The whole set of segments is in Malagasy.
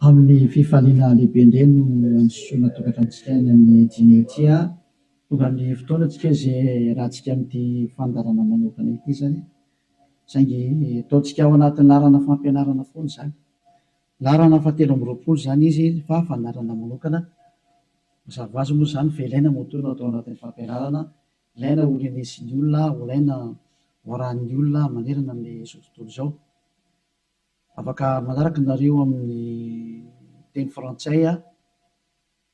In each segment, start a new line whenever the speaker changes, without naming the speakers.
Amin'ny fifaliana lehibe indray no androsoana tokantranontsika any amin'ny dimy ity an! Tonga ny fotoana antsika izay hiarahantsika amin'ity fandaharana manokana ity izany, saingy ataontsika ao anatin'ny laharana fampianarana foana izany. Laharana fahatelo amby roapolo izany izy fa fandaharana manokana. Mazava ho azy moa izany fa ilaina moa toa no atao anatin'ny fampianarana, ilaina ho renesin'ny olona, ho ilaina ho arahin'ny olona manerana amin'izao tontolo izao. Afaka manaraka nareo amin'ny teny frantsay aho.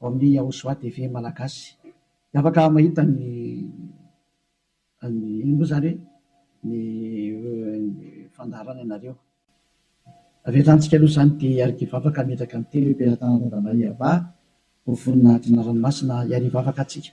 ao amin'ny Yahushua TV Malagasy dia afaka mahita ny ny inona moa izany e? ny fandaharana ianareo. Avelantsika aloha izany dia iarivo afaka hametraka ny teny hoe Mpianatana Novan'i Yavah ho vonona adina ranomasina iarivo afaka antsika.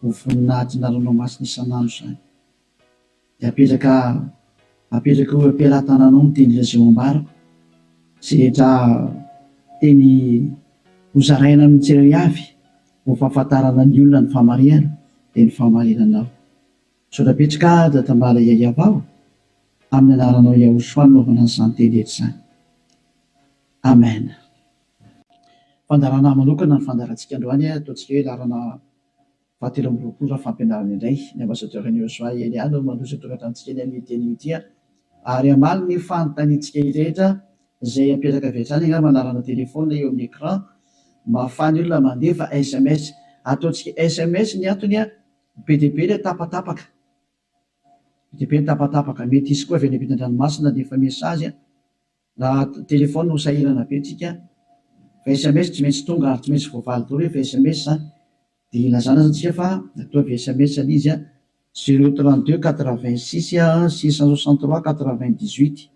Ho voninahitna ranomasina isan'andro izany. Dia apetraka apetraka eo am-pelatananao ny teny reseau ambarako, izay rehetra teny ho zaraina amin'ny tsirairay avy, ho fahafantarana ny olona ny fahamarihana, dia ny fahamarinanao. Misaotra betsaka aho Tambala Yayavao, amin'ny anaranao Yahoshua nanaovana an'izany teny rehetra izany. Amen. Fandaharanà manokana ny fandaharantsika androany, ataontsika hoe laharana Faha telo amby roapolo raha fampianarana indray ny Ambassadeur an'i Joshua Eliane no mandroso io tokantranotsika eny amin'io teny io tia ary hamaly ny fanontaniantsika io rehetra izay apetraka avy hatrany angamba anarana téléphone eo amin'ny écran mba afahan'ny olona mandefa sms ataontsika sms ny antony a bediabe ilay tapatapaka bediabe ny tapatapaka mety hisy koa avy any ampitandranomasina handefa message a. Na téléphone no sahirana be tsika fa sms tsy maintsy tonga ary tsy maintsy voavaly daholo rehefa sms dia ilazana aza tsika fa ataovy sms le izy zero trente deux quatre vingt six six cent soixante trois quatre vingt dix huit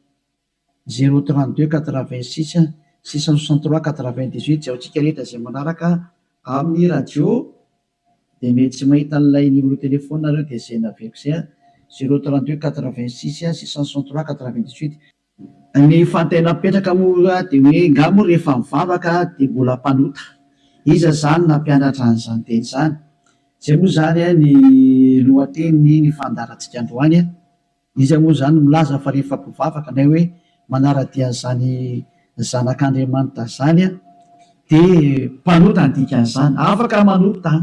zero trente deux quatre vingt six six cent soixante trois quatre vingt dix huit jaontsika rehetra izay manaraka amin'ny radio dia mety tsy mahita an'ilay numéro téléphone nareo dia izay naveriko izay zero trente deux quatre vingt six six cent soixante trois quatre vingt dix huit Ny fantena mipetraka moa dia hoe nga moa rehefa mivavaka dia mbola mpanota? Iza izany nampianatra an'izany teny izany? Izay moa izany ny lohatenin'ny ny fandaharantsika androany. Iza moa izany no milaza fa rehefa mpivavaka na hoe manara-dia an'izany zanak'Andriamanitra izany dia mpanota ny dikan'izany? Afaka manota an!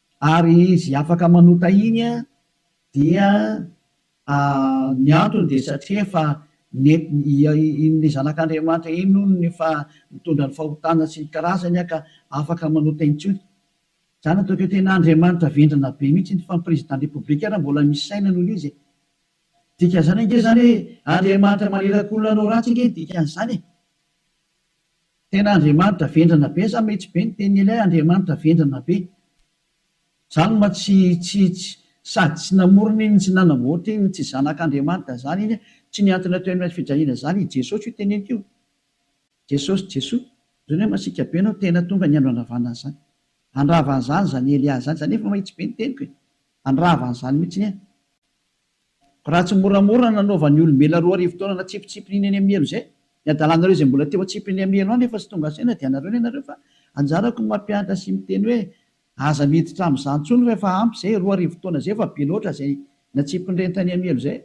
Ary izy afaka manota iny an, dia ny antony dia satria efa iny zanak'Andriamanitra iny hono efa nitondra ny fahotana sy ny karazany an ka afaka manota intsony. Zany ataoko hoe tena Andriamanitra vendrana be mihitsy iny fa ny président de république ary mbola misy saina noho izy e! Dikan'izany ange zany hoe Andriamanitra manirakolona anao ratsy ange ny dikan'izany e! Tena Andriamanitra vendrana be sa mety be ny tenin'i Eliah Andriamanitra vendrana be. Zany ma tsy tsy tsy sady tsy namorona iny tsy nanamboatra iny tsy zanak'Andriamanitra zany iny tsy ny antony atao eny fijaliana zany i Jesosy io teneniko io Jesosy Jesoa zany hoe masiaka be anao tena tonga ny andro handravana an'zany handravana zany zany Eliah zany za nefa mahitsy be ny teniko e handravana zany mitsiny e. Raha tsy moramora ny nanaovan'ny olombelona roa arivo taona natsipitsipin'iny eny Amielo izay, ny hadalanareo izay mbola teo antsipy ny Amielo any efa tsy tonga saina dia anareo ny anareo fa anjarako ny mampianatra sy miteny hoe aza miditra amin'izany intsony fa efa ampy izay, roa arivo taona izay efa be loatra izay natsipin'ireny tany Amielo izay.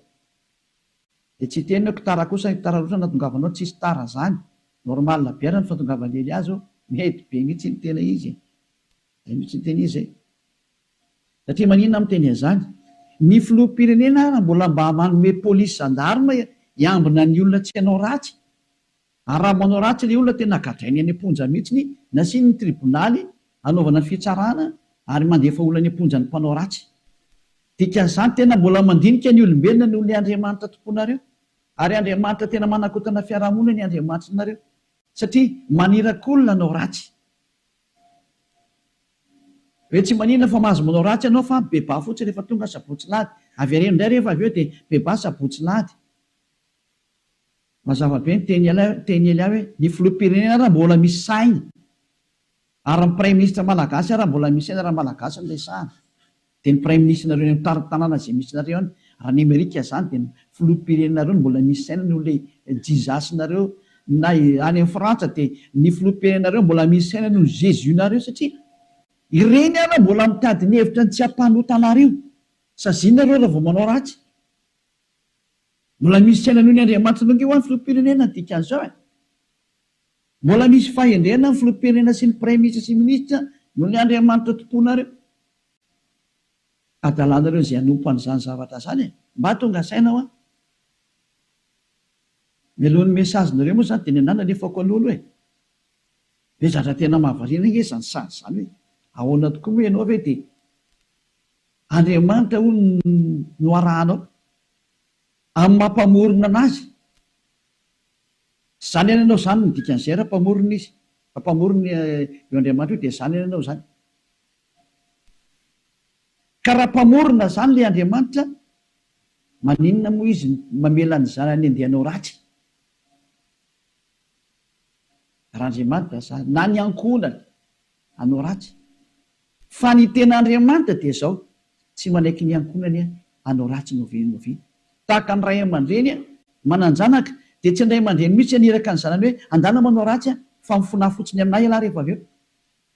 Dia tsy hiteny hoe tara kosa ny tara loatra natongavanao tsisy tara izany, normal be ara ny fahatongavan'i Eliazo, mety be mihitsy ny tena izy e! izay mihitsy ny tena izy e! Satria maninona aho miteny an'izany? Ny filoham-pirenena ary mbola mba manome polisy zandarma hiambina ny olona tsy hanao ratsy? Ary raha manao ratsy ilay olona tena gadrainy any am-ponja mihitsy, nasiany ny tribonaly hanaovana fitsarana ary mandefa olona any am-ponja ny mpanao ratsy. Dikan'izany tena mbola mandinika ny olombelona noho ny Andriamanitra tompoinareo. Ary Andriamanitra tena manakotana fiarahamonina ny Andriamanitrinareo. Satria maniraky olona hanao ratsy. Hoe tsy maninona fa mahazo manao ratsy ianao fa bebà fotsiny rehefa tonga sabotsy lahady. Avereno indray rehefa avy eo dia bebà sabotsy lahady. Mazava be ny teny ialahy teny ialahy hoe ny filoham-pirenena ary mbola misy sahiny ary ny praiminisitra malagasy ary mbola misy saina raha malagasy no resahana. Dia ny praiminisitrinareo eny amin'ny tanàna izay misy anareo any, raha any Amerika izany dia ny filoham-pirenenareo no mbola misy saina noho ilay Jesus-nareo, na any amin'ny Frantsa dia ny filoham-pirenenareo mbola misy saina noho ny Jesus-nareo satria ireny ary mbola mitady ny hevitra ny tsy hampanota anareo. Saziana ireo raha vao manao ratsy. Mbola misy saina noho ny Andriamanitra noho ny hoan'ny filoham-pirenena ny dikan'izao e. Mbola misy fahendrena ny filoham-pirenena sy ny praiminisitra sy ny minisitra noho ny Andriamanitra tomponareo. adalanareo izay hanompo an'izany zavatra izany e! Mba tonga saina hoa. Melohin'ny message nareo moa izany dia ny anah nalefako alolo e! Ve zatra tena mahavariana ange izany sazy izany hoe ahoana tokoa moa ianao ve dia Andriamanitra hono no arahanao amin'ny maha mpamorona an'azy? Zany any ianao zany ny dikan'izay raha mpamorona izy, raha mpamorona io Andriamanitra io dia zany any ianao zany. Ka raha mpamorona zany le Andriamanitra maninona moa izy mamela ny zanany andeha hanao ratsy? Raha Andriamanitra zany na ny ankohonany hanao ratsy fa ny tena Andriamanitra dia zao tsy manaiky ny ankohonany hanao ratsy noviany noviany tahaka ny ray aman-dreny manan-janaka dia tsy ny ray aman-dreny mihitsy haniraka ny zanany hoe andana manao ratsy fa mifona fotsiny aminay ialahy rehefa avy eo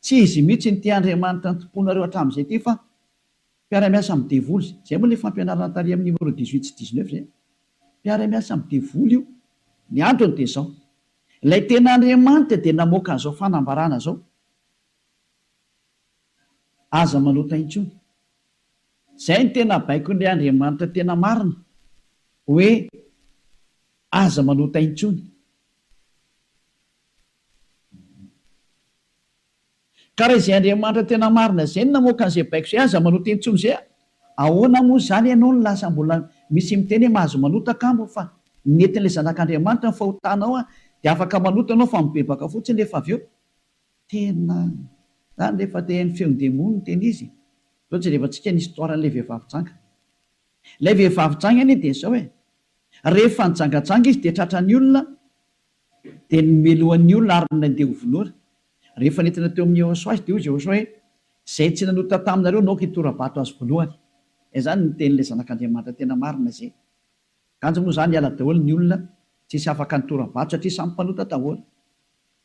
Tsy izy mihitsy no tia Andriamanitra nitompoanareo hatramin'izay ity fa mpiara-miasa amin'ny devoly izay. Izay moa ilay fampianarana tary amin'ny numéro dix huit sy dix neuf izay. Mpiara-miasa amin'ny devoly io. Ny antony dia izao, ilay tena Andriamanitra dia namoaka an'izao fanambarana izao, Aza manota intsony. Izay no tena baikon'ilay Andriamanitra tena marina, hoe aza manota intsony. Ka raha izay Andriamanitra tena marina izay no namoaka an'izay baiko izay, aza manota intsony izay a! Ahoana moa izany ianao no lasa mbola misy miteny hoe mahazo manota kamo fa ny netin'ilay Zanak'Andriamanitra no fahotanao a! Dia afaka manota ianao fa mibebaka fotsiny rehefa avy eo. Tena izany re fa te-haino feon'ny demony ny tena izy e! Izao jerevantsika ny histoire an'ilay vehivavy janga. Ilay vehivavy janga anie dia izao e! Rehefa nijangajanga izy dia tratran'ny olona, Dia nomelohany ny olona ary nandeha ho vonoina. Rehefa nentina teo amin'i Jehosoa azy, dia hoy Jehosoa hoe, Izay tsy nanota taminareo no aoka hitora-bato azy voalohany. Izany no tenin'ilay Zanak'Andriamanitra tena marina izay. Kanjo moa izany hiala daholo ny olona tsy hisy afaka nitora-bato satria samy mpanota daholo.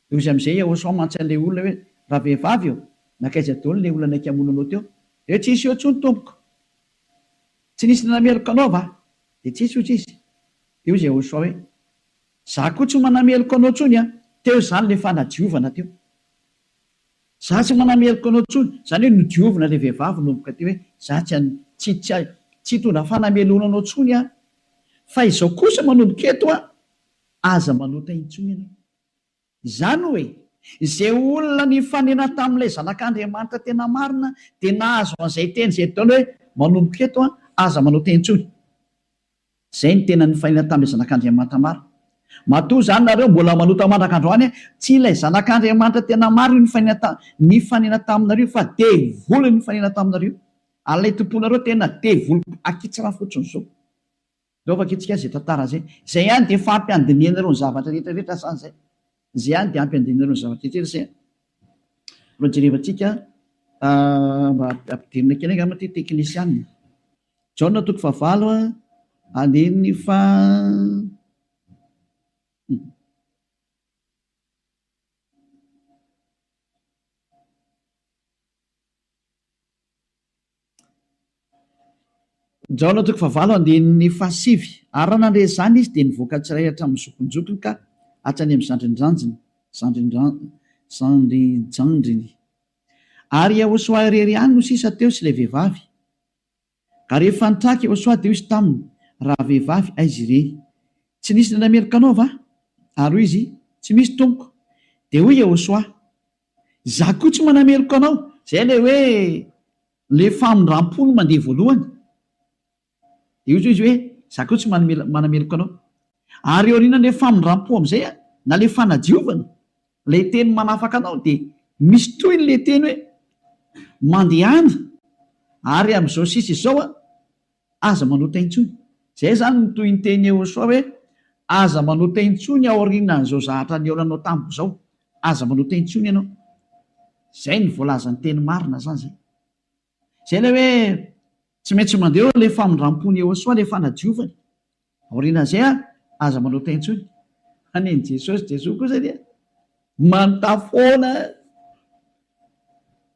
Dia hoy amin'izay Jehosoa mantsy an'ilay olona hoe, Ravehivavy ô, nankaiza daholo ilay olona naika hamono anao teo? Dia hoe, Tsy nisy eo intsony, tompoko. Tsy nisy nanameloka anao va? Dia tsy nisy, hoy izy. Dia hoy Jehosoa hoe, Za koa tsy manameloka anao tsony an! Teo izany le fanadiovana teo. Za tsy manameloka anao tsony, zany hoe nodiovina le vehivavy nomboka teo hoe za tsy an, tsy, tsy, tsy hitondra fanameloana anao tsony aho. Fa izao kosa manomboka eto an! Aza manota intsony ianao. Izany hoe, izay olona nifanena tamin'ilay Zanak'Andriamanitra tena marina dia nahazo an'izay teny izay Edona hoe, Manomboka eto, aza manao teny intsony. Izay no tena nifanena tamin'ilay Zanak'Andriamanitra marina. Matoa izany nareo mbola manota mandraka androany, tsy ilay Zanak'Andriamanitra tena marina io nifanena nifanena taminareo io fa devoly no nifanena taminareo io. Ary ilay tomponareo tena devoly akitsara fotsiny izao. Ndao vakitsika izay tantara izay. Izay ihany dia efa ampy handinihana ireo ny zavatra rehetra rehetra sa izay? Izay ihany dia ampy handinihana ireo ny zavatra rehetra rehetra izay? Mba jerevantsika mba ampidirina kely angamba ity teknisianina. Jaona toko fahavalo a, andininy faha. Jaona toko fahavalo andininy fahasivy Ary raha nandre izany izy, dia nivoaka tsirairay hatramin'ny zokinjokiny ka hatrany amin'ny zandrindrandriny, zandrijandriny. Ary Iehosoa irery ihany no sisa teo sy ilay vehivavy. Ary rehefa nitraka Iehosoa, dia hoy izy taminy, Ravehivavy, aiza ireny? Tsy nisy nandrameloka anao va? Ary hoy izy, Tsy misy, tompoko. Dia hoy Iehosoa, Izaho koa tsy manameloka anao. Izay ilay hoe ilay famindram-po no mandeha voalohany. Dia hoy izy hoe, Izaho koa tsy manameloka anao. Ary eo aorianan'ilay famindram-po amin'izay, na ilay fanadiovana, ilay teny manafaka anao, dia misy tohiny ilay teny hoe, Mandehana, ary amin'izao sisa izao aho. Aza manota intsony. Izay izany no tohin-tenin'i Yehosua hoe, Aza manota intsony aorianan'izao zahatra nihaonanao tamiko izao. Aza manota intsony ianao. Izay no voalazan'ny teny marina izany izay. Izay ilay hoe tsy maintsy mandeha eo ilay famindram-pon'i Yehosua, ilay fanadiovany. Aoriana izay ary, aza manota intsony. Hanin'i Jesosy, Jesoa kosa dia manota foana.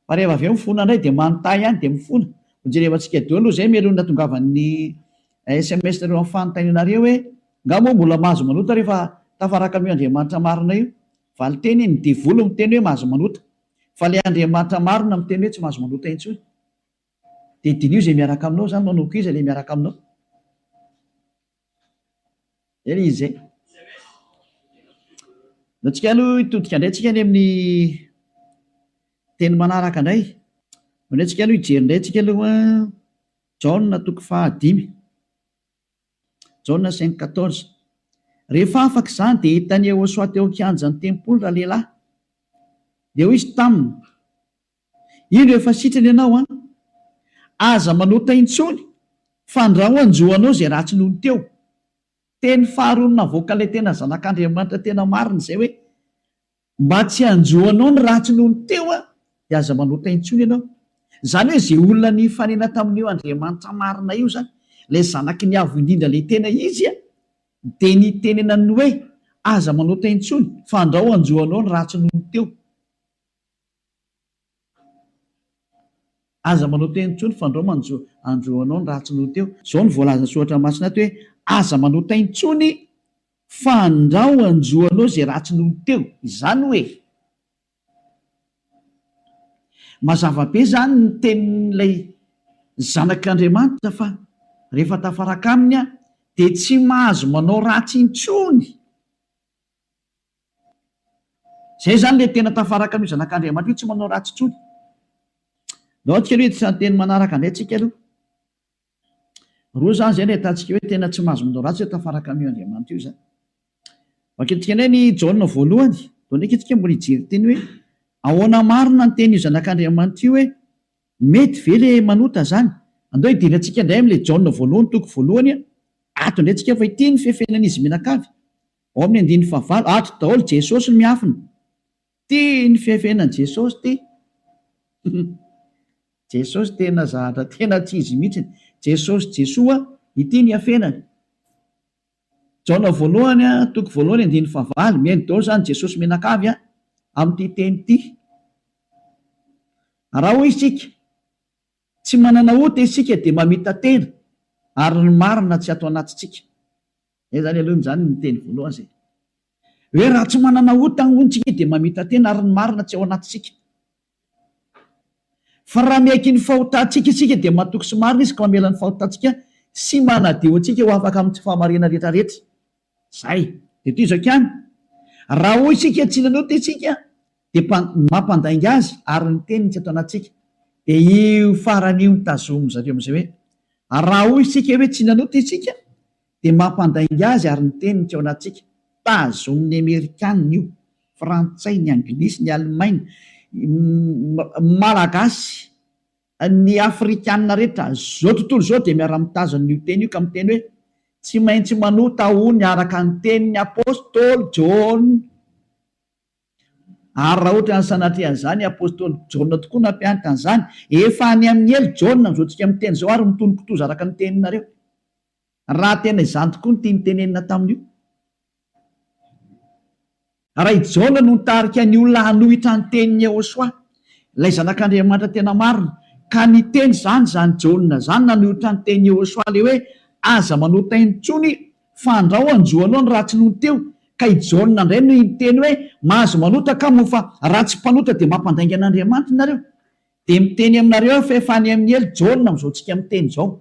Fa rehefa avy eo mifona indray dia manota ihany dia mifona. Hojerevantsika daholo izay melohin'ny natongavan'ny sms nareo amin'ny fanontanianareo hoe, Nga moa mbola mahazo manota rehefa tafaraka amin'io Andriamanitra marina io? Valinteny, Ny devoly miteny hoe mahazo manota. Fa ilay Andriamanitra marina miteny hoe tsy mahazo manota intsony. Dia diniho izay miaraka aminao izany manao koa iza ilay miaraka aminao? Izay ilay izy izay. Dia antsika aloha hitodika indray antsika any amin'ny teny manaraka indray. Ao indray antsika aloha hijery indray antsika aloha Jaona toko fahadimy. Jaona cinq quatorze. Rehefa afaka izany dia hitan'i Yehosoa teo an-kianjan'ny tempoly ralehilahy. Dia hoy izy taminy, Indro efa sitrana ianao an! Aza manota intsony fandrao hanjo anao izay ratsy noho ny teo. Teny faharoa navoaka ilay tena zanak'Andriamanitra tena marina izay hoe, mba tsy hanjo anao ny ratsy noho ny teo aho dia aza manota intsony ianao. Izany hoe izay olona nifanena tamin'io Andriamanitra marina io izany, ilay zanaky ny Avo indrindra ilay tena izy an, dia nitenenany ny hoe, aza manota intsony fandrao hanjo anao ny ratsy noho ny teo. Aza manao teny intsony fa ndrao manjo andro anao ny raha tsy noho teo. Izao no voalazan'ny soratra masina ato hoe, Aza manao teny intsony fa ndrao hanjo anao izay ratsy noho teo. Izany hoe, mazava be izany ny tenin'ilay Zanak'Andriamanitra fa rehefa tafaraka aminy aho dia tsy mahazo manao ratsy intsony. Izay izany ilay tena tafaraka amin'io zanak'Andriamanitra io, tsy manao ratsy intsony. Ndao antsika aloha hiditra ny teny manaraka indray tsika aloha. Roa izany izay no ahitantsika hoe tena tsy mahazo manao ratsy hoe tafaraka amin'io Andriamanitra io izany. Vakintsika indray ny Jaona voalohany, vao ndraika isika mbola hijery teny hoe ahoana marina ny tenin'io zanak'Andriamanitra io hoe mety ve ilay manota izany. Andao hidera antsika indray amin'ilay Jaona voalohany toko voalohany, ato indray tsika fa ity ny fefenan'izy mianakavy. Ao amin'ny andininy fahavalo, ato daholo Jesosy no miafina. Tia ny fihafenany Jesosy ty. Jesosy tena zahatra tena tsy izy mihitsiny. Jesosy Jesoa ity ny hafenany. Jaona voalohany a, toko voalohany andininy fahavalo, mihaino daholo zany Jesosy mianakavy a, amin'ity teny ity. Raha hoy isika, tsy manana ota isika dia mamita-tena ary ny marina tsy ato anatintsika. Zay zany aloha zany ny teny voalohany zay hoe raha tsy manana otany hono tsika dia mamita tena ary ny marina tsy ao anatintsika. Fa raha miaiky ny fahotantsika isika dia matoky sy marina izy ka mamela ny fahotantsika sy manadio antsika ho afaka amin'ny tsy fahamariana rehetra rehetra. Zay. Dia toy izao ihany, raha hoy isika tsy nanota isika dia mpa, mampandainga azy ary ny teniny tsy ato anatintsika. Dia io farany io no tazomin-dry zareo amin'izay hoe raha hoy isika hoe tsy nanota isika Dia mampandainga azy ary ny teniny teo anatintsika. Tazonin'ny Amerikana io, Frantsay, ny Anglisy, ny Alemaina, ny Malagasy, ny Afrikana rehetra izao tontolo izao dia miara-mitazona an'io teny io ka miteny hoe, Tsy maintsy manota ho ny araka ny tenin'ny Apostoly Jaona. Ary raha ohatran'ny sanatria an'izany i Apostoly Jaona tokoa nampianatra an'izany, efa any amin'ny helo Jaona amin'izao tsika miteny izao ary mitonon-kitoza araka ny teninareo. raha tena izany tokoa ny tiany tenenina tamin'io. Raha i Jaona no nitarika ny olona hanohitra ny tenin'i Yehosua, ilay Zanak'Andriamanitra tena marina, ka niteny izany izany Jaona izany nanohitra ny tenin'i Yehosua ilay hoe, Aza manota aina intsony, fa andrao hanjo anao ny ratsy nony teo. Ka i Jaona indray no niteny hoe, Mahazo manota ka moa fa raha tsy mpanota dia mampandainga an'Andriamanitra nareo. Dia miteny aminareo aho fa efa any amin'ny helo Jaona amin'izao tsika miteny izao.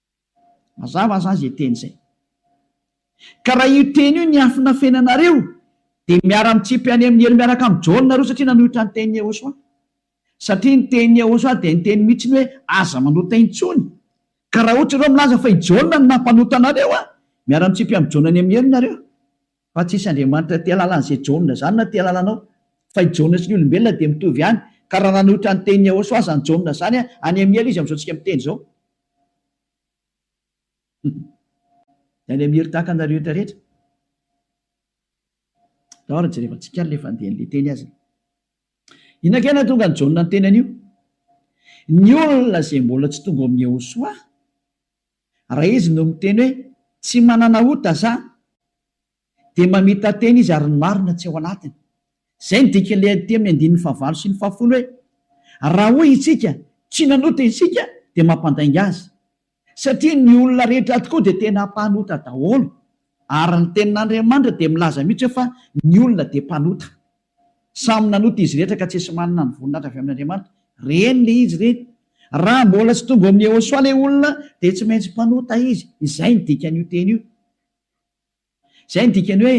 Mazava aza izay teny izay. Ka raha io teny io niafina feno anareo dia miara mitsipy any amin'ny helo miaraka amin'i John nareo satria nanohitra ny tenin'i Yehosua. Satria ny tenin'i Yehosua dia niteny mihitsy ny hoe aza manota intsony. Ka raha ohatra ireo milaza fa i John no nampanota anareo an! miara mitsipy amin'i John any amin'ny helo nareo. Fa tsy hisy Andriamanitra tia alalan'izay John izany na tia alalanao. Fa i John sy ny olombelona dia mitovy ihany. Ka raha nanohitra ny tenin'i Yehosua aza ny John izany an! any amin'ny helo izy amin'izao tsika miteny izao. Any Amir tahaka anareo eto rehetra. Tao ary jerevantsika ary le fandehan'ny le teny azy. Inona kay nahatonga an'i Jaona niteny an'io? Ny olona izay mbola tsy tonga ao amin'i Yehosoa, raha izy no miteny hoe tsy manana ota za, dia mamita-tena izy ary ny marina tsy ao anatiny. Izay no dikan'ilay adity amin'ny andininy fahavalo sy ny fahafolo hoe, Raha hoy isika, Tsy nanota isika, dia mampandainga azy. Satria ny olona rehetra tokoa dia tena mpanota daholo. Ary ny Tenin'Andriamanitra dia milaza mihitsy hoe fa ny olona dia mpanota. Samy nanota izy rehetra ka tsisy manana ny voninahitra avy amin'Andriamanitra. Reny le izy reny. Raha mbola tsy tonga ao amin'i Yehosoa le olona dia tsy maintsy mpanota izy. Izay no dikan'io teny io. Izay no dikany hoe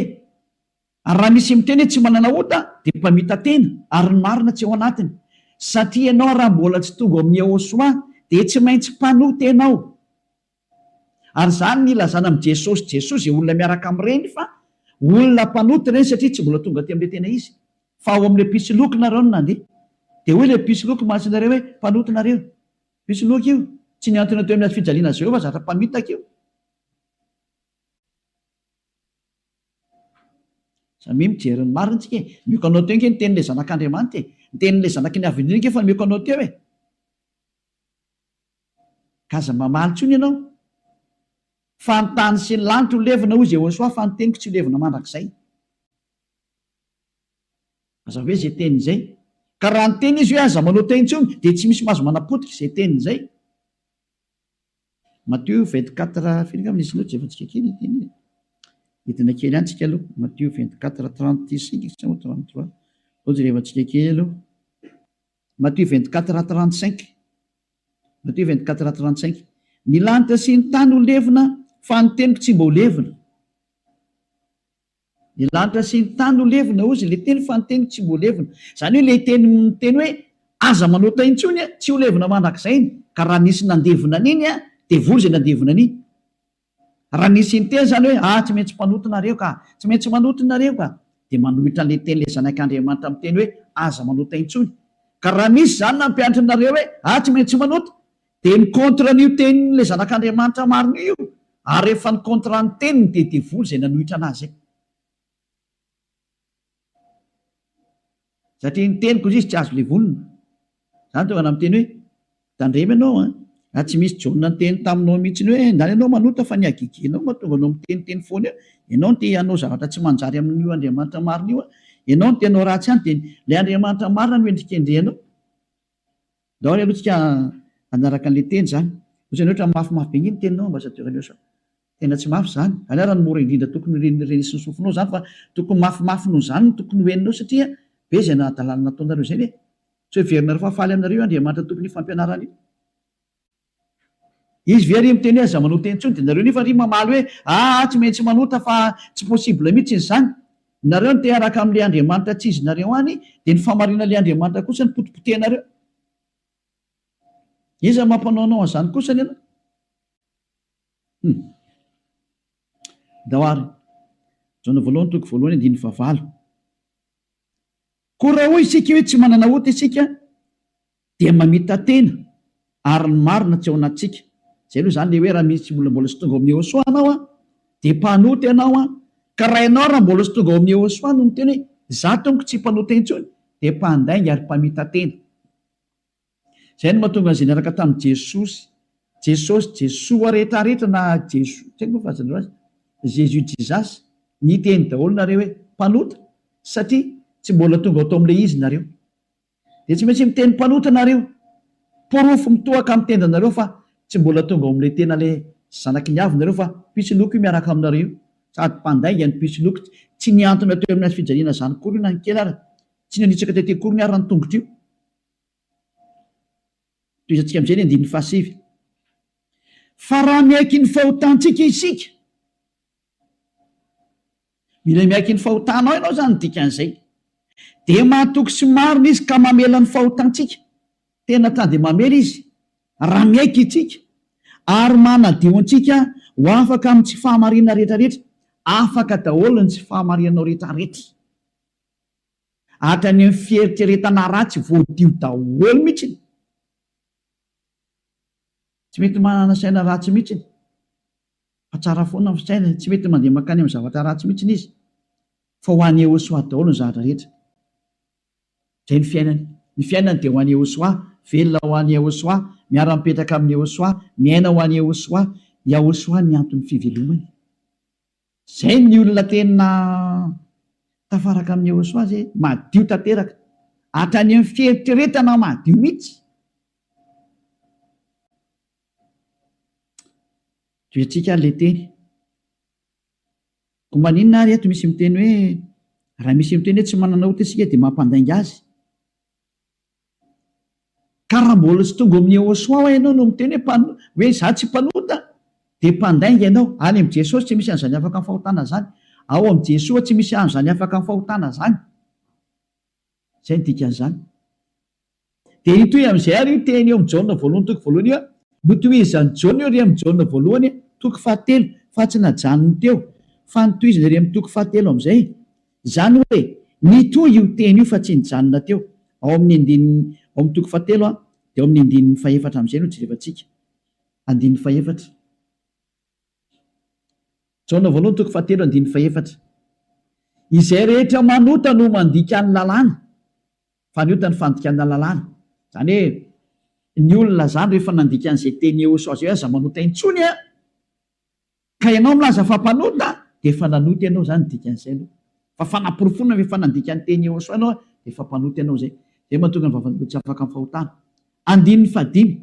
raha misy miteny hoe tsy manana ota dia mpamita-tena ary ny marina tsy ao anatiny. Satria ianao raha mbola tsy tonga ao amin'ny Yehosua dia tsy maintsy mpanota-tena ao. Ary izany no ilazana amin'i Jesosy Jesoa izay olona miaraka amin'ireny fa olona mpanota ireny satria tsy mbola tonga aty amin'ilay tena izy. Fa ao amin'ilay mpisoloky nareo no nandeha. Dia hoy ilay mpisoloky masin'ireo hoe, Mpanota nareo. Mpisoloky io. Tsy nihantona teo amin'ny hazofijaliana Jehovah zatra mpamitaka io. Za mi mijery ny marina tsika e! Mioka anao teo nge ny tenin'ilay zanak'Andriamanitra e! Ny tenin'ilay zanaky ny avenir nge efa mioka anao teo e! Ka aza mamaly intsony ianao fa ny tany sy ny lanitra ho levona hoy Jehosoa fa ny teniko tsy ho levona mandrakizay. Aza hoe izay teny izay. Ka raha niteny izy hoe aza manao teo intsony dia tsy misy mahazo manapotika izay teniny izay. Matio vingt quatre firy angamba nisy loto zay fa tsika kely ity anie e hidina kely any tsika aloha Matio vingt quatre trente cinq sa moa trente trois ohatry rehefa tsika kely aloha Matio vingt quatre trente cinq Matio vingt quatre trente cinq ny lanitra sy ny tany ho levona fa ny teniko tsy mba ho levona Ny lanitra sy ny tany no levona, hozy ilay teny, fa ny teniko tsy mbola levona. Izany hoe ilay teny miteny hoe, Aza manota intsony an, tsy ho levona mandrakizay iny. Ka raha nisy nandevona an'iny an, dia voa izay nandevona an'iny. Raha nisy niteny izany hoe, Ah, tsy maintsy mpanota nareo ka! Tsy maintsy manota nareo ka! dia manohitra an'ilay teny ilay Zanak'Andriamanitra miteny hoe, Aza manota intsony. Ka raha nisy izany nampianatra anareo hoe, Ah, tsy maintsy manota! Dia ny contre an'io tenin'ilay zanak'Andriamanitra marina io, ary rehefa ny contre ny teniny dia devoly izay nanohitra anazy izay. Satria ny teniko hoy izy tsy azo levonina. Izany tonga namiteny hoe, tandremo ianao an, raha tsy misy Jaona niteny taminao mihitsy hoe ndany ianao manota fa ny hagegenao mahatonga anao miteniteny foana eo, ianao no te hanao zavatra tsy manjary amin'io Andriamanitra marina io an, ianao no te hanao ratsy ihany dia ilay Andriamanitra marina no endrikendrehanao. Daholo aloha tsika hanaraka anle teny zany. Otrany hoe otrany mafy mafy be nge ny teninao ambassadeur aleo sao tena tsy mafy zany. Aleo ara ny mora indrindra tokony reny reny sy ny sofinao zany fa tokony mafy mafy noho zany no tokony ho eninao satria be zay nahadalana nataonareo zay ve. Tsy ho heverinareo fa faly aminareo io Andriamanitra tompon'io fampianarana io. Izy ve ry miteny hoe aza manota intsony dia nareo nefa ry mamaly hoe aa tsy maintsy manota fa tsy possible mitsy ny zany. Nareo no te haraka amle Andriamanitra tsy izy nareo any dia ny famarina le Andriamanitra kosa no potipotehinareo. Iza no mampanaonao anzany kosa ny anao? Hum. Ndao ary. Jaona voalohany toko voalohany andininy fahavalo. Koa raha hoy isika hoe tsy manana ota isika Dia mamita-tena ary ny marina tsy ao anatintsika. Izay aloha izany le hoe raha misy olona mbola tsy tonga ao amin'ny Yehosua anao an, dia mpanota ianao an, ka raha ianao raha mbola tsy tonga ao amin'ny Yehosua no miteny hoe za tompoko tsy mpanota intsony dia mpandainga ary mpamita-tena. Izay no mahatonga an'izay niaraka tamin'i Jesosy, Jesosy, Jesoa rehetra rehetra na Jeso, tsy haiko moa fa azonareo azy, Jésus, Jesus, niteny daholo nareo hoe mpanota satria tsy mbola tonga ao tamin'ilay izy nareo. Dia tsy maintsy miteny mpanota nareo. Porofo mitohaka amin'ny tendanareo fa tsy mbola tonga ao amin'ilay tena ilay zanaky ny avy nareo fa pitsiloko io miaraka aminareo io. Sady mpandainga ny pitsiloko. Tsy nihantona teo amin'ny hazofijaliana izany akory io na ny kely ary. Tsy nanitsaka tety akory ny ary ny tongotro io. Tohizantsika amin'izay ny andininy fahasivy. Fa raha miaiky ny fahotantsika isika. Mila miaiky ny fahotanao ianao izany no dikan'izay. Dia mahatoky sy marina Izy ka mamela ny fahotantsika. Tena ta dia mamela Izy raha miaiky isika ary manadio antsika ho afaka amin'ny tsy fahamarinana rehetrarehetra. Afaka daholo ny tsy fahamarinanao rehetrarehetra. Hatrany amin'ny fieritreretana ratsy voadio daholo mihitsy. Tsy mety manana saina ratsy mihitsy. fa tsara foana ny fisainana e, tsy mety mandeha mankany amin'ny zavatra ratsy mihitsy izy fa ho an'i Yehosoa daholo ny zavatra rehetra. Izay ny fiainany. Ny fiainany dia ho an'i Yehosoa, velona ho an'i Yehosoa, miara-mipetraka amin'i Yehosoa, miaina ho an'i Yehosoa, Yahosoa ny anton'ny fivelomany. Izay ny olona tena tafaraka amin'i Yehosoa izay, madio tanteraka, hatrany amin'ny fieritreretana madio mihitsy. Toetsika ary ilay teny. Koa maninona ary eto misy miteny hoe raha misy miteny hoe tsy manana ota isika dia mampandainga azy? Ka raha mbola tsy tonga ao amin'ny Yehosoa ho'a ianao no miteny hoe mpan- hoe izaho tsy mpanota dia mpandainga ianao. Any amin'i Jesosy tsy misy an'izany afaka ny fahotana izany. Ao amin'i Jesoa tsy misy an'izany afaka ny fahotana izany. Izay ny dikan'izany. Dia hitohy amin'izay àry io teny eo amin'ny Jaona voalohany toko voalohany io, Notohizan'i Jaona io ry amin'ny Jaona voalohany toko fahatelo, fa tsy najanony teo, fa notohizany ry amin'ny toko fahatelo amin'izay. Izany hoe, nitohy io teny io fa tsy nijanona teo. Ao amin'ny andininy, ao amin'ny toko fahatelo dia ao amin'ny andininy fahefatra amin'izay no jerevantsika. Andininy fahefatra. Jaona voalohany toko fahatelo andininy fahefatra. Izay rehetra manota no mandika ny lalàna, fa ny ota ny fandikana lalàna. Izany hoe ny olona izany rehefa nandika an'izay teny eosao izay hoe aza manota intsony an, ka ianao milaza fa mpanota dia efa nanota ianao izany ny dikan'izay aloha. Fa fanaporofoana fa efa nandika ny teny eosao ianao dia efa mpanota ianao izay. Izay no mahatonga ny vavan'olona tsy afaka amin'ny fahotana. Andininy fahadimy.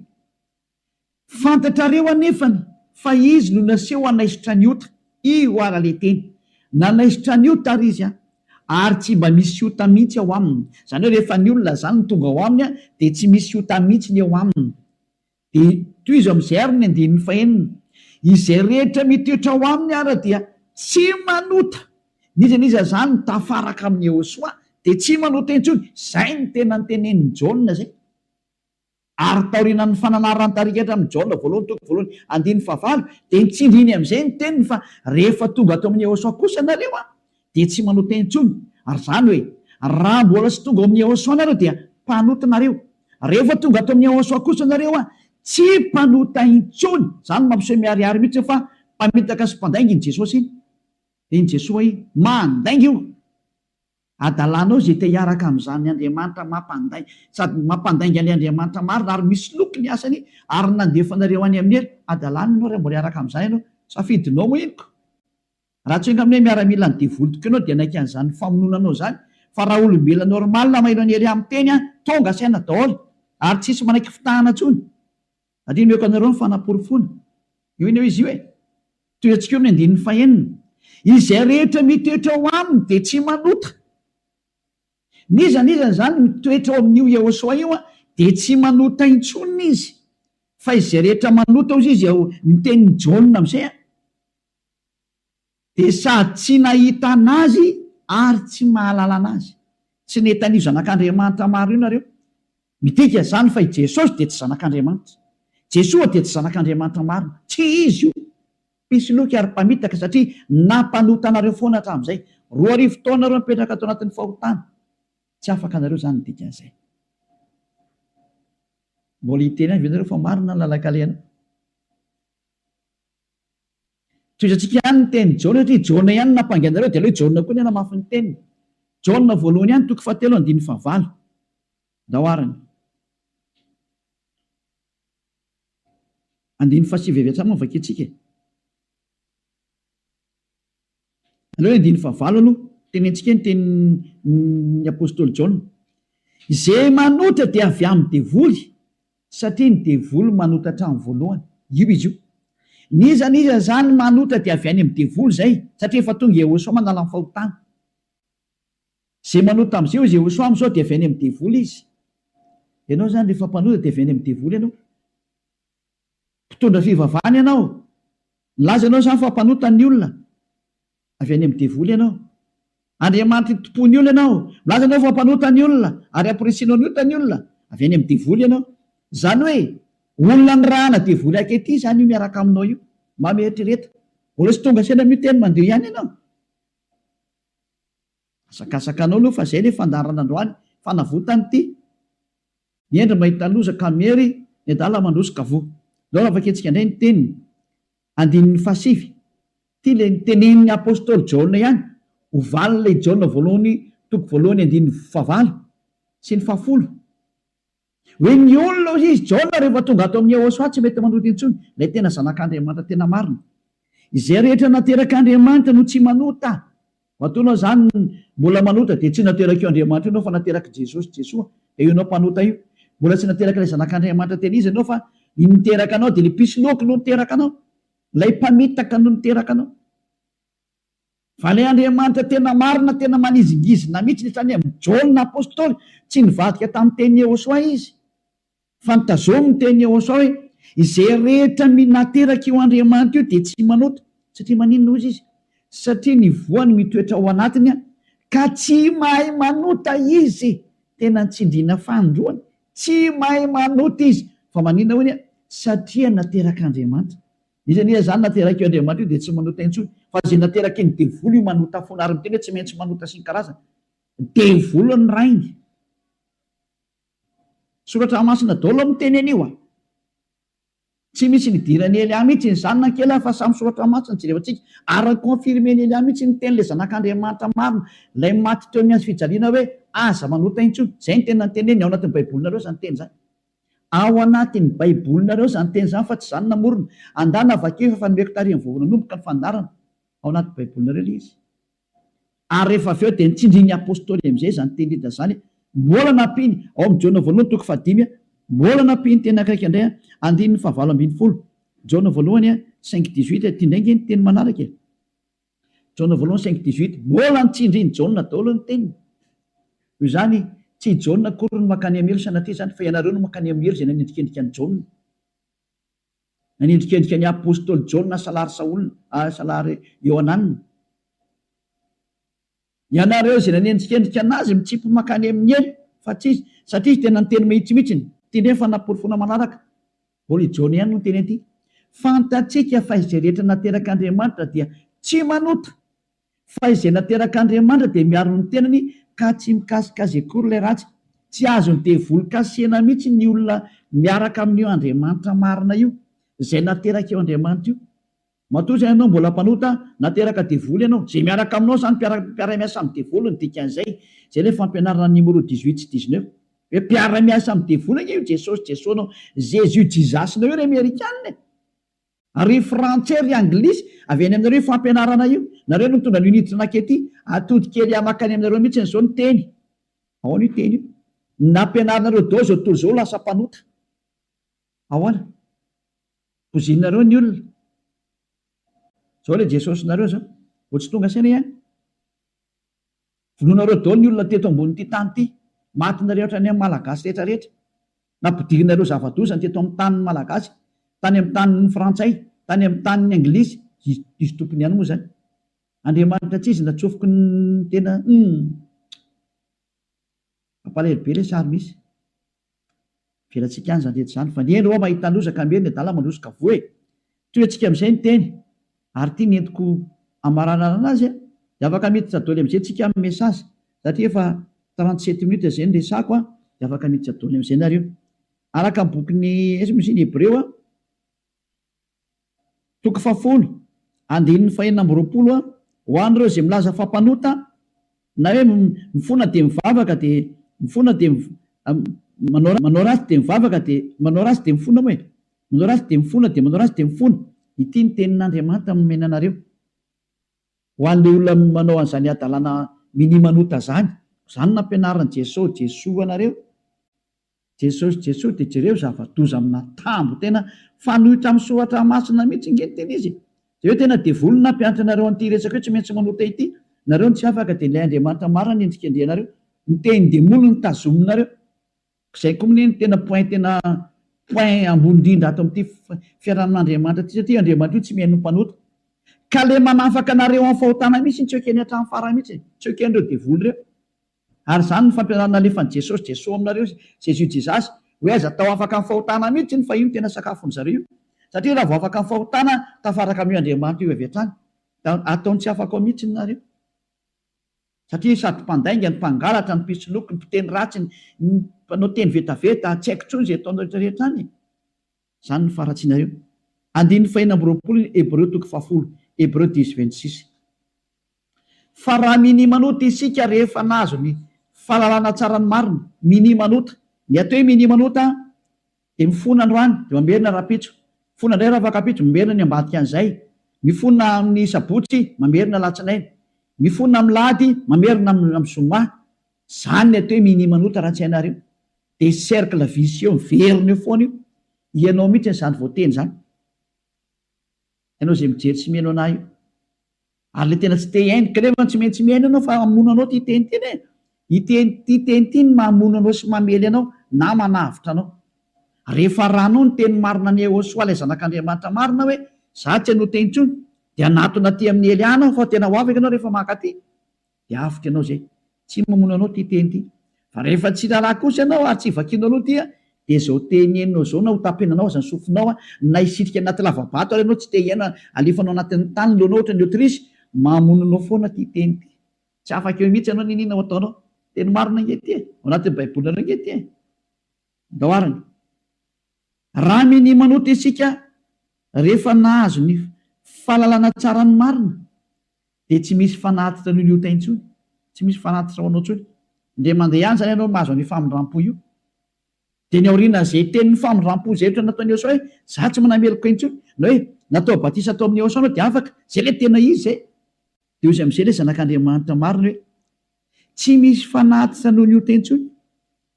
Fantatrareo anefany fa izy no naseho hanaisotra an'i Ota, io ara le teny. Nanaisotra an'i Ota ary izy, ary tsy mba misy ota mihitsy ao aminy. Izany hoe rehefa ny olona izany no tonga ao aminy dia tsy misy ota mihitsy ny eo aminy. Dia tohizo amin'izay ary ny andininy fahenina, Izay rehetra mitoetra ao aminy ara dia tsy manota. N'iza n'iza izany tafaraka amin'i Yehosoa dia tsy manota intsony. Izay no tena notenenin'i Jaona izay. Ary taorianan'ny fananaran-tarikatra amin'i Jaona voalohany toko voalohany andininy fahavalo dia nitsindriny amin'izay ny teniny fa rehefa tonga ato amin'i Yehosua kosa ianareo dia tsy manao teny intsony ary izany hoe raha mbola tsy tonga ao amin'i Yehosua ianareo dia mpanota nareo rehefa tonga ato amin'i Yehosua kosa ianareo tsy mpanota intsony izany mampiseho miharihary mihitsy fa mpamitaka sy mpandainga iny Jesosy iny dia iny Jesoa iny mandainga io Adalanao izay te hiaraka amin'izany Andriamanitra mampanday sady mampandainga ny Andriamanitra marina ary misy loky ny asany ary nandefa anareo any aminy ery adalana ianao raha mbola hiaraka amin'izany ianao safidinao moa iny ko raha tsy enga aminay miaramila ny devoly tokoa ianao dia hanaiky an'izany famononanao izany fa raha olombelona normal maheno an'i Hery miteny an tonga saina daholo ary tsisy manaiky fitahana intsony Andinihako anareo ny fanaporofoana. Io anie hoe izy io e. Tohiantsika eo amin'ny andininy fahenina. Izay rehetra mitoetra ao aminy dia tsy manota. N'iza n'iza izany mitoetra ao amin'io Iehosoa io dia tsy manota intsony izy. Fa izay rehetra manota hozy izy ao ny tenin'i Jaona amin'izay a. Dia sady tsy nahita an'Azy ary tsy mahalala an'Azy. Tsy nety an'io Zanak'Andriamanitra maro io nareo. Midika izany fa i Jesosy dia tsy Zanak'Andriamanitra. Jesoa dia tsy Zanak'Andriamanitra marina. Tsy Izy io. Mpisoloky ary mpamitaka satria nampanota anareo foana hatramin'izay. Roa arivo taona ireo mipetraka ato anatin'ny fahotana. Tsy afaka anareo izany ny dikan'izay. Mbola hiteny ihany ve nareo fa marina ny lalan-kalehana? Tohizantsika ihany ny tenin'i Jaona satria Jaona ihany no nampangy anareo dia aleo i Jaona koa anie hanamafy ny teniny. Jaona voalohany ihany toko fahatelo andininy fahavalo. Ndao ary ny. Andininy fahasivy avy hatrany moa vakintsika e. Aleo andininy fahavalo aloha, tenentsika ny tenin'ny apostoly Jaona, Izay manotra dia avy amin'ny devoly, satria ny devoly manota hatramin'ny voalohany. Io izy io. N'iza n'iza izany manotra dia avy any amin'ny devoly izay, satria efa tonga Iehôsoa manala ny fahotana. Izay manota amin'izay hozy Iehôsoa amin'izao dia avy any amin'ny devoly izy. Ianao izany rehefa mpanota dia avy any amin'ny devoly ianao. Mpitondra fivavahana ianao. Nilaza ianao izany fa mpanota ny olona. Avy any amin'ny devoly ianao. Andriamanitra itompo ny olona ianao. Milaza ianao fa mpanota ny olona ary hampirisianao ny ota ny olona. Avy any amin'ny devoly ianao. Izany hoe olona nirahana devoly ankehitriny izany io miaraka aminao io. Mba mieritrereta. Mbola tsy tonga saina miteny mandeha ihany ianao. Asakasakanao aloha fa zay le fandaharana androany fanavotany ty ny hendry mahita loza ka miery ny adala mandroso ka voa zao raha vakitsika ndray ny teniny andininy faha sivy ty le niteneniny apostoly jaona ihany ho valiny le i jaona voalohany toko voalohany andininy faha valo sy ny faha folo Hoe ny olona hoy izy, Jaona rehefa tonga ato amin'i Yehosua tsy mety manota intsony, ilay tena Zanak'Andriamanitra tena marina. Izay rehetra naterak'Andriamanitra no tsy manota. Matoa izany mbola manota dia tsy naterak'io Andriamanitra io ianao fa naterak'i Jesosy, Jesoa, dia io ianao mpanota io. Mbola tsy naterak'ilay Zanak'Andriamanitra tena izy ianao fa ny niteraka anao dia ilay mpisoloky no niteraka anao, ilay mpamitaka no niteraka anao. Vale Andriamanitra tena marina tena manizingizina mihitsy ny sainy amin'i Jaona apostoly tsy nivadika tamin'ny teny Yehosoa izy fa nitazomy ny teny Yehosoa hoe izay rehetra minateraka io Andriamanitra io dia tsy manota satria maninona hoy izy satria ny voany mitoetra ao anatiny ka tsy mahay manota izy tena nitsindriana fanindroany tsy mahay manota izy fa maninona hoy satria naterak'Andriamanitra Izy anie izany naterak' io Andriamanitra io dia tsy manota intsony, fa izay naterak' iny devoly io manota foana, ary miteny hoe tsy maintsy manota sy ny karazany. Devoly ny rainy. Soratra masina daholo miteny an' io a! Tsy misy nidiran' i Elià mihitsy ny zanany kely a! Fa samy soratra masina jerevantsika, ary ny confirmen' Elià mihitsy ny tenin' ilay Zanak' Andriamanitra marina, ilay maty teo amin' ny hazofijaliana hoe aza manota intsony. Izay ny teny nanteneniny, ao anatin' ny Baibolinareo izany teny izany. Ao anatin'ny Baibolinareo izany teny izany fa tsy izaho no namorona. Andana vakio efa efa nomeko tarehin'ny vahoaka nanomboka ny fandaharana. Ao anaty Baibolinareo ilay izy. Ary rehefa avy eo dia nitsindrin'ny Apostoly amin'izay izany teny Lida izany. Mbola nampiany, ao amin'ny Jaona voalohany toko fahadimy, mbola nampiany teny ankaika indray, andininy fahavalo ambin'ny folo, Jaona voalohany, cinq dix-huit, ity indray ange ny teny manaraka e. Jaona voalohany cinq dix huit, Mbola ny tsindrin'i Jaona daholo ny teniny. Noho izany, tsy i Jaona akory no mankany amin'ny helo sanatria izany, fa ianareo no mankany amin'ny helo izay nanendrikendrika an'i Jaona. Nanendrikendrika ny apostoly Jaona salary Saola, salary Iohanana. Ianareo izay nanendrikendrika an'azy mitsipy mankany amin'ny elo fa tsy izy, satria izy dia nanteny mahitsymihitsiny, teny efa naporofoana manaraka, Holy John ihany no niteny an'ity, Fantatsika fa izay rehetra naterak'Andriamanitra dia tsy manota, fa izay naterak'Andriamanitra dia miaro ny tenany ka tsy mikasika azy akory ilay ratsy. Tsy azon'ny devoly kasihina mihitsy ny olona miaraka amin'io Andriamanitra marina io, izay naterak'io Andriamanitra io. Matoa izay ianao mbola mpanota, na teraka devoly ianao, izay miaraka aminao izany mpiara mpiara-miasa amin'ny devoly ny dikan'izay, izay ilay fampianarana Nimoro dix huit sy dix neuf. Hoe mpiara-miasa amin'ny devoly ange io Jesosy Jesosnao, Jésus Jesus-nao io ry Amerikana e! Ary ry Frantsay ry Anglisy, avy any aminareo io fampianarana io, nareo no nitondra an'io niditra nakety, atody kely ahy makany aminareo mihitsiny izao ny teny, ahoana io teny io? ny nampianarinareo dao izao tontolo izao lasa mpanota. Ahoana? Bozinareo ny olona. Zao le Jesosinareo zao. Vao tsy tonga saina ihany. Vonoinareo daholo ny olona teto ambonin'ity tany ity. Maty nareo hatrany amin'ny Malagasy rehetra rehetra. Nampidirinareo zava-doza ny teto amin'ny tanin'ny Malagasy. Tany amin'ny tanin'ny Frantsay, tany amin'ny tanin'ny Anglisy. Izy, izy tompony ihany moa zany. Andriamanitra tsy izy natsofoky ny tena, humm. Mampalahelo be le sary misy. Avelatsika any zany rehetra zany fa ny eny oa mahita loza ka miery ny adala mandroso ka voa e! Toy antsika amizay ny teny ary ity nentiko amaranarana azy a! de afaka miditra doly amizay tsika am message satria efa trente sept minutes zay ny resako a! de afaka miditra doly amizay nareo araka ny bokin'ny aiza moa izy iny hebreo a! Toko fahafolo, andininy fahenina amby roapolo a Ho an'ireo izay milaza fa mpanota, na hoe mifona dia mivavaka dia mifona dia manao manao ratsy dia mivavaka dia manao ratsy dia mifona moa e! manao ratsy dia mifona dia manao ratsy dia mifona, ity ny tenin'Andriamanitra nomena anareo ho an'ilay olona manao an'izany hadalana mini-manota izany, izany nampianarin'i Jesoa Jesoa anareo, Jesosy Jesosy de jereo zavadoza amina tambo tena fanoitra am soratra masina mitsy nge ny tena izy e! de eo tena devoly nampianatra anareo anty resaka io tsy maintsy manota ity nareo no tsy afaka de ilay Andriamanitra marina no endrikendrehanareo ny tehin demoly no tazominareo zay ko mne no tena point tena point ambony indrindra ato amty fiarahamin Andriamanitra ty satria io Andriamanitra io tsy mihaino ny mpanota ka le manafaka anareo am fahotana mitsy tsy ekeny hatram farany mitsy e! tsy ekenreo devoly reo. Ary izany no fampianarana nalefan'i Jesosy Jeso aminareo izy, Jésus Jesus, hoe aiza tao afaka ny fahotana mihitsy iny fa io no tena sakafon'ny zareo io. Satria raha vao afaka ny fahotana tafaraka amin'io Andriamanitra io avy hatrany dia ataony tsy afaka ao mihitsy ny nareo. Satria sady mpandainga ny mpangalatra ny mpisoloky ny mpiteny ratsy ny mpanao teny vetaveta tsy haiko intsony izay ataonareo rehetra any e. Izany no faharatsianareo. Andininy fahenina amby roapolo ny Hebreo toko fahafolo, Hebreu dix, vingt six. Fa raha minimanota isika rehefa nahazo ny fahalalana tsara ny marina, minimanota, ny atao hoe minimanota dia mifona androany dia mamerina rahampitso, mifona indray ravakampiitso, mamerina ny ambadikan'izay, mifona amin'ny sabotsy, mamerina alatsinainy, mifona amin'ny lahady, mamerina amin'ny zoma. Izany ny atao hoe minimanota raha tsy hainareo. De cercle vicieux miverina eo foana io, ianao mihitsy zany voateny zany, ianao zay mijery sy mihaino anah io, ary le tena tsy te hihaino, ka nefa tsy maintsy mihaino ianao fa hamono anao ty teny ty ne, ity ty teny ty no mamono anao sy mamely anao na manavotra anao, rehefa ranao ny teny marina an'i Ehosoa ilay zanak'Andriamanitra marina hoe za tsy hanoa teny intsony, de hanatona aty amin'ny Hely any aho fa tena ho afaka ianao rehefa maka aty, dia avotra ianao izay. Tsy mamono anao ity teny ity. Fa rehefa tsy raharaha kosa ianao ary tsy vakianao aloha ity dia izao teny henonao izao na hotapenanao aza ny sofinao na hisitrika anaty lavabato ary ianao tsy te hihaino halefanao anatin'ny tany ny lohanao ohatran'ny autruche, mamono anao foana ity teny ity. Tsy afaka eo mihitsy ianao n'inona ho ataonao. Teny marina ange ity e! Ao anatin'ny Baibolinareo ange ity e! Andao arany. Raha minia manota isika rehefa nahazo ny fahalalana tsara ny marina Dia tsy misy fanatitra an'io liotay intsony, tsy misy fanatitra ho anao intsony. Indray mandeha ihany izany ianao no mahazo an'io famindram-po io. Dia ny aorianan'izay tenin'ny famindram-po izay ohatra ny nataon'i Eosaoa hoe, Izaho tsy manameloka intsony, na hoe, Natao batisa tao amin'i Eosaoa ianao dia afaka. Izay ilay tena izy izay. Dia hoy amin'izay ilay Zanak'Andriamanitra marina hoe, Tsy misy fanatitra noho ny ota intsony,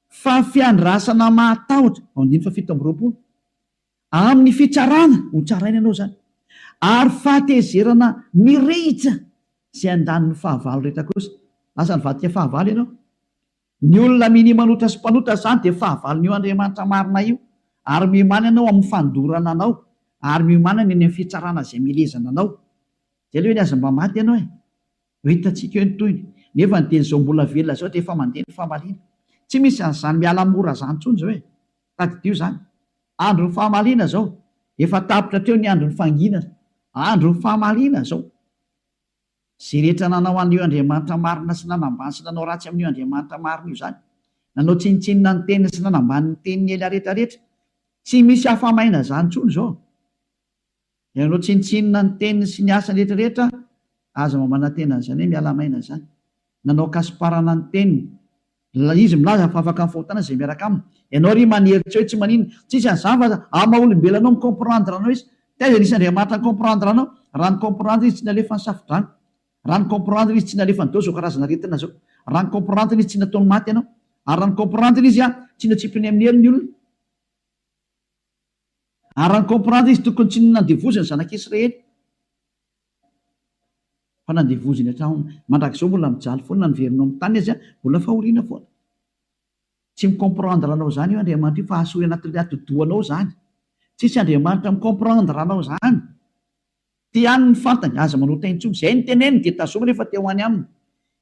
fa fiandrasana mahatahotra. Andininy fahafito amby roapolo. Amin'ny fitsarana ho tsaraina ianao izany, ary fahatezerana mirehitra izay andaniny fahavalo rehetra kosa. Lasa nivadika fahavalo ianao. Ny olona minia manota sy mpanota izany dia fahavalon'io Andriamanitra marina io, ary miomana ianao amin'ny fandorana anao, ary miomana ny any amin'ny fitsarana izay milezana anao. Izay aloha ve ny azy mba maty ianao e! Ho hitantsika eo ny tohiny. Nefa ny teny izao mbola velona izao dia efa mandeha ny famaliana. Tsy misy an'izany miala mora izany intsony izao e! Tadidio izany. Andron'ny famaliana izao. Efa tapitra hatreo ny andron'ny fanginana. Andron'ny famaliana izao. Izay rehetra nanao an'io Andriamanitra marina sy nanambany sy nanao ratsy amin'io Andriamanitra marina io izany. Nanao tsinontsinona ny teniny sy nanambany ny teniny ela rehetra rehetra. Tsy misy afa-maina izany intsony izao. Ianao tsinontsinona ny teniny sy ny asany retraretra aza mba manantena an'izany hoe miala maina izany. Nanao kasiparana ny teniny. Ilay izy milaza fa afaka mifahontana izay miaraka aminy. Ianao ary manery tsy eo tsy manina. Tsisy an'izany fa amin'ny maha olombelona anao mi comprendre anao izy. Taiza nisy Andriamanitra ni comprendre anao? Raha ni comprendre izy tsy nalefa ny safodrano. Raha ni comprendre izy tsy nalefa nidao izao karazana aretina izao. Raha ni comprendre izy tsy nataony maty ianao. Ary raha ni comprendre izy tsy notsipiny amin'ny hery ny olona. Ary raha comprendre izy tokony tsy nandevoziny ny zanak' Israely fa nandevoziny hatramin, mandrakizao mbola mijaly foana na niverina ao amin' ny tany aza mbola fahoriana foana. Tsy mi comprendre anao izany io Andriamanitra io fa hasoy anatin' ny ati-dohanao izany. Tsisy Andriamanitra mi comprendre anao izany. Te haniny ny fantany, aza manota intsony. Izay no teneniny dia tazominy rehefa te ho any aminy.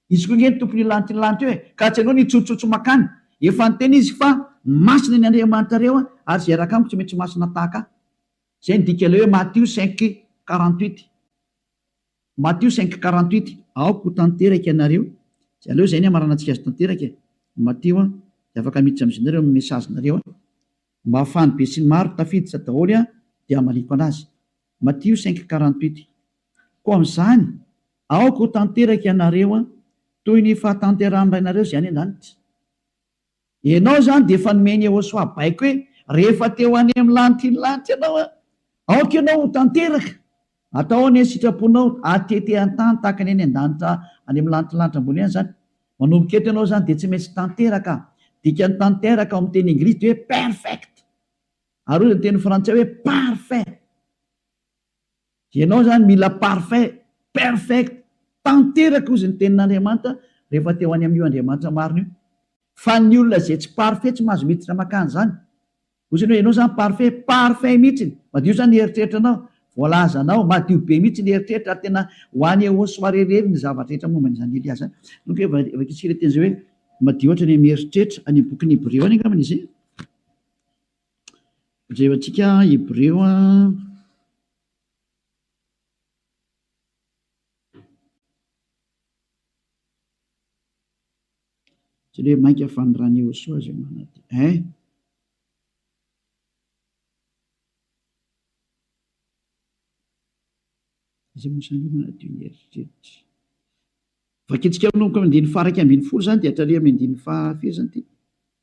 Izy koa ange ny Tompon'io lanitra lanitra io e! Ka tsy aleo ny hitsotsotso mankany. Efa niteny Izy fa masina ny Andriamanitrareo ary izay hiaraka amiko tsy maintsy masina tahaka Ahy. Izay no dika ilay hoe Matio cinq quarante-huit. Matio cinq quarante-huit. Aoka ho tanteraka ianareo, dia aleo izay ny hamaranantsika azy tanteraka e! Matio a! Dia afaka miditra amin'izy nareo amin'ny message-nareo a! Mba ahafahan'ny besinimaro tafiditra daholo aho dia hamaliako anazy. Matio cinq quarante huit Koa amin'izany, aoka ho tanteraka ianareo toy ny fahatanterahan'ny Rainareo izay any an-danitra. Ianao izany dia efa nomeny Yehosua baiko hoe rehefa te ho any amin'ny lanitr'iny lanitra ianao, aoka ianao ho tanteraka. Atao anie ny sitraponao hatete an-tany tahaka ny any an-danitra any amin'ny lanitr'ny lanitra ambony any izany. Manomboka eto ianao izany dia tsy maintsy tanteraka. Dikan'ny tanteraka ao amin'ny teny englisy dia hoe perfect. Ary hoy ny teny frantsay hoe parfait. Ianao izany mila parfait, perfect, tanteraka hozy ny tenin'Andriamanitra rehefa te ho any amin'io Andriamanitra marina io. Fa ny olona izay tsy parfait tsy mahazo miditra makany izany. Hoy izany hoe ianao izany parfait, parfait mihitsy, madio izany ny eritreritranao, voalazanao, madio be mihitsy ny eritreritra ary tena ho any au soirée irery ny zavatra rehetra momba an'izany Elia izany. Nony kay vakintsika ilay teny izay hoe madio ohatra ny amin'ny eritreritra, any amin'ny bokin'ny Hebreo any angambany izay. Jereo antsika Hebreo a. Jereo mainka fa ny ran'i Iehosoa izay manadino eh. Izay Mosè no manadio ny eritreritra. Vakintsika manomboka amin'ny andininy faha iraika ambin'ny folo izany dia hatraria amin'ny andininy faha firy izany ity?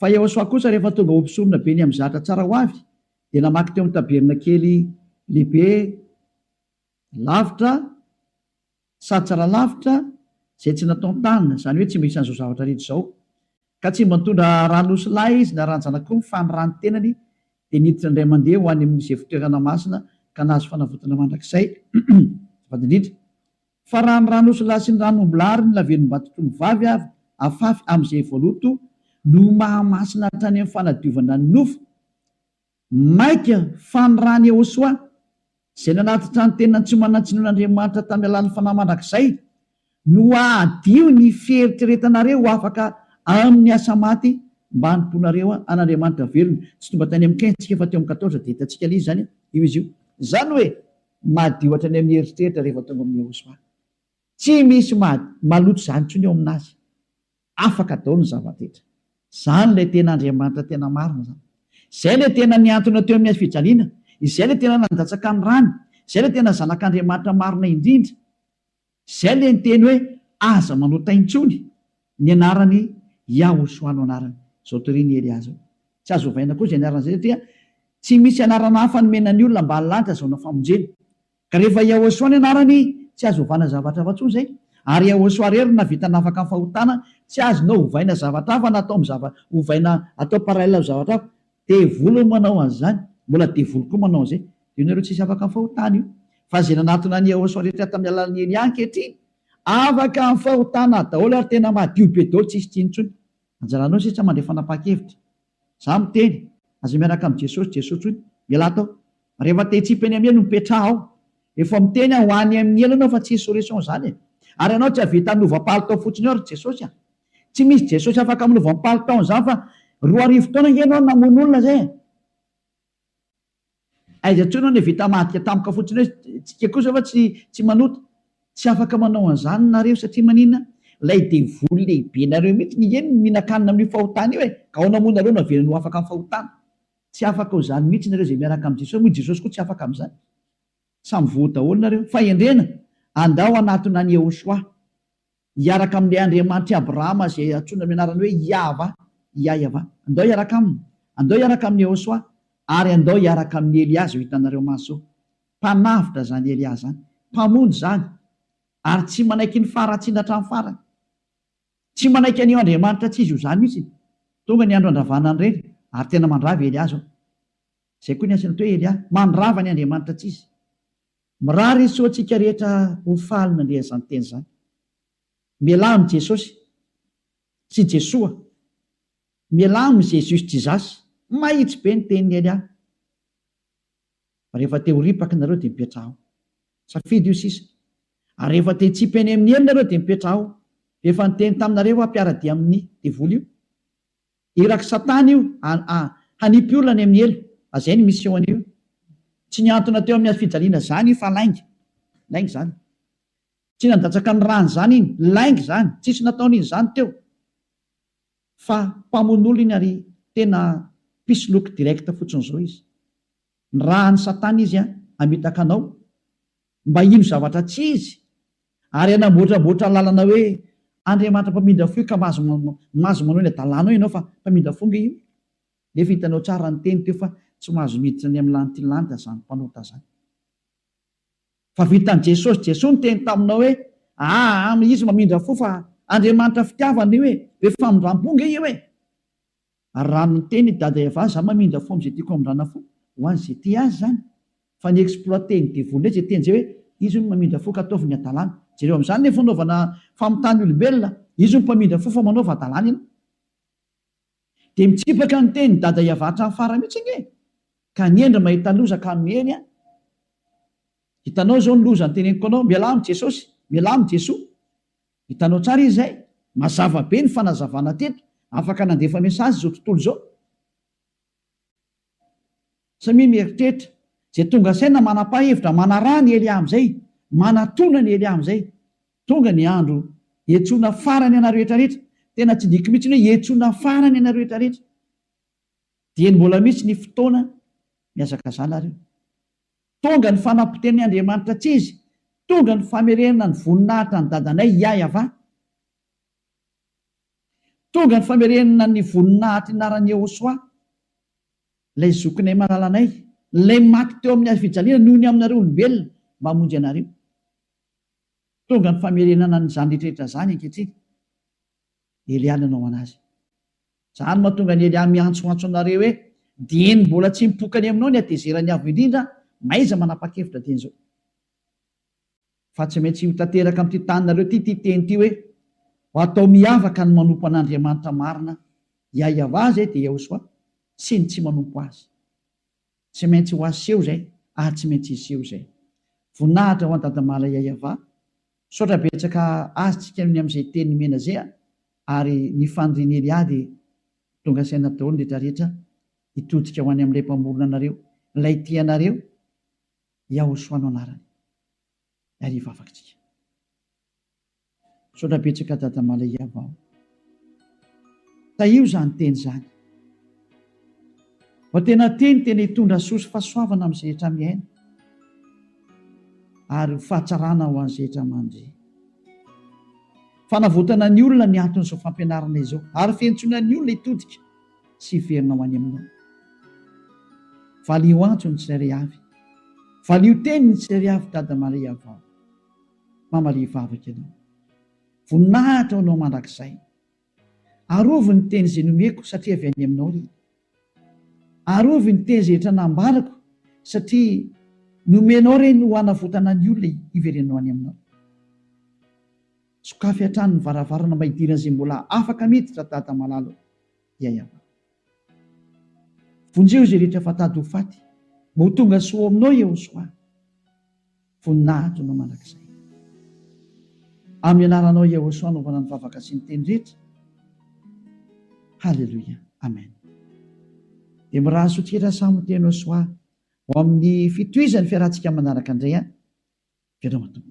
Fa Iehosoa kosa rehefa tonga ho mpisorona be ny amin'ny zatra tsara ho avy, dia namaky teo amin'ny tabernakely lehibe lavitra sady tsara lavitra izay tsy nataon-tanana, izany hoe tsy mba isan'izao zavatra rehetra izao. Ka tsy mba nitondra ran'osilahy izy na ran-janak'omby, fa ny ran'ny tenany dia niditra indray mandeha ho any amin'izay fitoerana masina ka nahazo fanavotana mandrakizay. Azafady indrindra. Fa raha ny ran'osilahy sy ny ran'ombilahy ary ny lavenimbato toy ny vavy avy afafy amin'izay voaloto no mahamasina hatrany amin'ny fanadiovana ny nofo, maika fa ny ran'i Yehosoa, izay nanatitra ny tenany tsy manan-tsinoana Andriamanitra tamin'ny alalan'ny fanahy mandrakizay, no hahadio ny fieritreretanareo ho afaka amin'ny asa maty mba hanompoanareo an'Andriamanitra velona. Tsy tonga tany amin'ny quinze tsika fa teo amin'ny quatorze dia hitantsika ilay izy izany io izy io. Izany hoe. Madio hatrany amin'ny eritreritra rehefa tonga amin'i Yehosua. Tsy misy maloto izany intsony eo aminazy. Afaka daholo ny zava-drehetra. Izany ilay tena Andriamanitra tena marina izany. Izay ilay tena nihantona teo amin'ny hazofijaliana. Izay ilay tena nandatsaka ny rany. Izay ilay tena Zanak'Andriamanitra marina indrindra. Izay ilay niteny hoe aza manao tay intsony ny anaran'i Yahoshua no anarany. Izao toria ny Elia izao. Tsy azo ovaina koa izay anarana izay satria tsy misy anarana hafa nomena ny olona mba hahalanja azahoana famonjena. Ka rehefa Yahoshua ny anarany tsy azo ovana zavatra hafa intsony izay. Ary Yahoshua irery no nahavita nanafaka ny fahotana, tsy azonao ovaina zavatra hafa na atao amin'ny zava, ovaina atao parallèle amin'ny zavatra hafa. Devoly no manao an'izany, mbola devoly koa manao an'izay. Dia ianareo tsisy afaka mifaho tany io. Fa izay nanatona an'i Yehosua rehetra tamin'ny alalan'i Elia ankehitriny, afaka mifaho tana daholo ary tena madio be daholo, tsisy tsy intsony. Anjaranao sisa mandray fanapahan-kevitra. Izaho miteny, aza miaraka amin'i Jesosy, Jesoa intsony. Ialahy tao. Rehefa te hitsipy any amin'ny helo, mipetraha ao. Efa miteny aho, ho any amin'ny helo ianao fa tsy insurrection izany e. Ary ianao tsy hahavita hanova palitao fotsiny ao ry Jesosy a. Tsy misy Jesosy afaka amin'ny voampalo taona izany fa roa arivo taona ange ianao no namono olona izay e! Aiza intsony aho no vita madika tampoka fotsiny hoe tsika kosa va tsy tsy manota? Tsy afaka manao an'izany nareo satria maninona? Ilay devoly lehibenareo mihitsy nge no mihinan-kanina amin'io fahotana io e! Ka ahoana moa nareo no havelany ho afaka amin'ny fahotana? Tsy afaka ho izany mihitsy nareo izay miaraka amin'i Jesosy, moa Jesosy koa tsy afaka amin'izany? Samy voa daholo nareo. Fahendrena, andao hanatona an'i Yehoshuah. Hiaraka amin'ilay Andriamanitr'i Abrahama izay antsoina amin'ny anarany hoe Iahvah, Iahyavah. Andao hiaraka aminy. Andao hiaraka amin'i Yehosua, ary andao hiaraka amin'i Elia izao hitanareo maso. Mpanavotra izany Elia izany. Mpamonjy izany. Ary tsy manaiky ny faharatsiana hatramin'ny farany. Tsy manaiky an'io Andriamanitra tsy izy ho zany mihitsy. Tonga ny andro handravana an'ireny, ary tena mandrava i Elia izao. Izay koa ny asan'ito hoe Elia, mandrava ny Andriamanitra tsy izy. Mirary izy ho antsika rehetra ho faly nandre izany teny izany. Mialà amin'i Jesosy sy Jesoa. Mialà amin'i Jésus Jesus. Mahitsy be ny tenin'i Elia. Rehefa te ho ripaka nareo dia mipetraha ao. Safidy io sisa. Ary rehefa te hitsipene amin'ny helony nareo dia mipetraha ao. Rehefa niteny taminareo aho mpiara-dia amin'ny devoly io. Irak'i satana io a hanipy olona any amin'ny helo a zay ny mission-ny io tsy nihantona teo amin'ny hazofijaliana zany io fa lainga lainga zany tsy nandatsaka ny rany zany iny lainga zany tsisy nataony iny zany teo fa mpamono olona iny ary tena mpisoloky direct fotsiny zao izy ny raha any satana izy a hamitaka anao Mba hino zavatra tsy izy, ary hanamboatramboatra lalana hoe Andriamanitra mpamindra fo io ka mahazo mahazo manao ny hadalana ao ianao fa mpamindra fo nge io nefa hitanao tsara ny teny teo fa tsy mahazo miditra ny amin'ny lanitry ny lanitra zany mpanota zany fa vitan'i Jesosy Jesoa niteny taminao hoe aa izy mamindra fo fa Andriamanitra fitiavana io e be famindrampo nge io e Ary raha miteny i Dada Eva za mamindra fo amzay tiako amindrana fo ho an ze tia azy zany fa ny exploiter ny devoly ndray ze teny zay hoe izy hono mamindra fo ka ataovy ny adalana jereo amzany le fanaovana famitany olombelona izy hono mpamindra fo fa manaova adalana ianao de mitsipaka ny teny Dada Eva hatram farany mitsy ange ka ny hendry mahita loza ka miely an hitanao zao ny loza ny teneniko anao mialà am jesosy mialà am jesoa Hitanao tsara izy izay? Mazava be ny fanazavana teto. Afaka nandefa message izao tontolo izao. Samia mieritreritra. Izay tonga saina manapa hevitra, manaraha ny Elia amin'izay, manatona ny Elia amin'izay. Tonga ny andro hiantsoana farany anareo rehetra rehetra. Tena tsy diko mihitsy ny hoe hiantsoana farany anareo rehetra rehetra. Dieny mbola misy ny fotoana mihazakazana ary io. Tonga ny fanampotenin'i Andriamanitra tsy izy, tonga ny famerenana ny voninahitra an'i Dadanay Iah Yahavah, tonga ny famerenana ny voninahitr'i Naran'i Yehosua, ilay Zokinay malalanay, ilay maty teo amin'ny hazo fijaliana noho ny aminareo olombelona mba hamonjy anareo. Tonga ny famerenana an'izany rehetra izany ankehitriny. Elia nanao an'azy. Izany mahatonga an'i Elia miantsoantso anareo hoe, Dieny mbola tsy mipoka any aminao ny hatezeran'ny Avo Indrindra, mahaiza manapa-kevitra dieny izao. Fa tsy maintsy ho tanteraka amin'ity taninareo ity ity teny ity hoe, Ho atao miavaka ny manompo an'Andriamanitra marina, Iahiavah izay dia Iahosòa, sy ny tsy manompo azy. Tsy maintsy ho aseho izay ary tsy maintsy hiseho izay. Voninahitra ho an Dadamala Yayava. Misaotra betsaka azy tsika ny amin'izay teny nomena izay a! ary ny fanirian'i Elia dia tonga saina daholo ny rehetra rehetra hitodika ho any amin'ilay mpamorona anareo, ilay tia anareo, Yahoshua no anarany. Ary hivavaka tsika. Misaotra betsaka Dada Malaiava o. Tahio izany teny izany. Vao tena teny tena hitondra soa sy fahasoavana amin'ny zehetra miaina ary ho fahatsarana ho an'ny zehetra mandre. Fanavotana ny olona ny anton'izao fampianarana izao ary fientsoana ny olona hitodika sy hiverina ho any Aminao. Valio antso ny tsirairay avy. Valio teny ny tsirairay avy Dada Malaiava o. Mamalia vavaka ianao. Voninahitra ho anao mandrakizay. Arovy ny teny izay nomeko satria avy any aminao ry. Arovy ny teny izay etra nambarako satria nomenao ireny ho hanavotana ny olona hiverenanao any aminao. Sokafy hatrany ny varavarana mba hidiran'izay mbola afaka miditra ry Dada malala ô. Yayava. Vonjeo izay rehetra efa tady ho faty mba ho tonga soa ao aminao Yehosoa. Voninahitnao mandrakizay. Amin'ny anaranao Yahosua anaovana ny vavaka sy ny teny rehetra. Haleloia. Amen. Dia mirary soa tsikera samy teny Yahosua ho amin'ny fitohizan'ny fiarahantsika manaraka indray an. Veloma Tompo.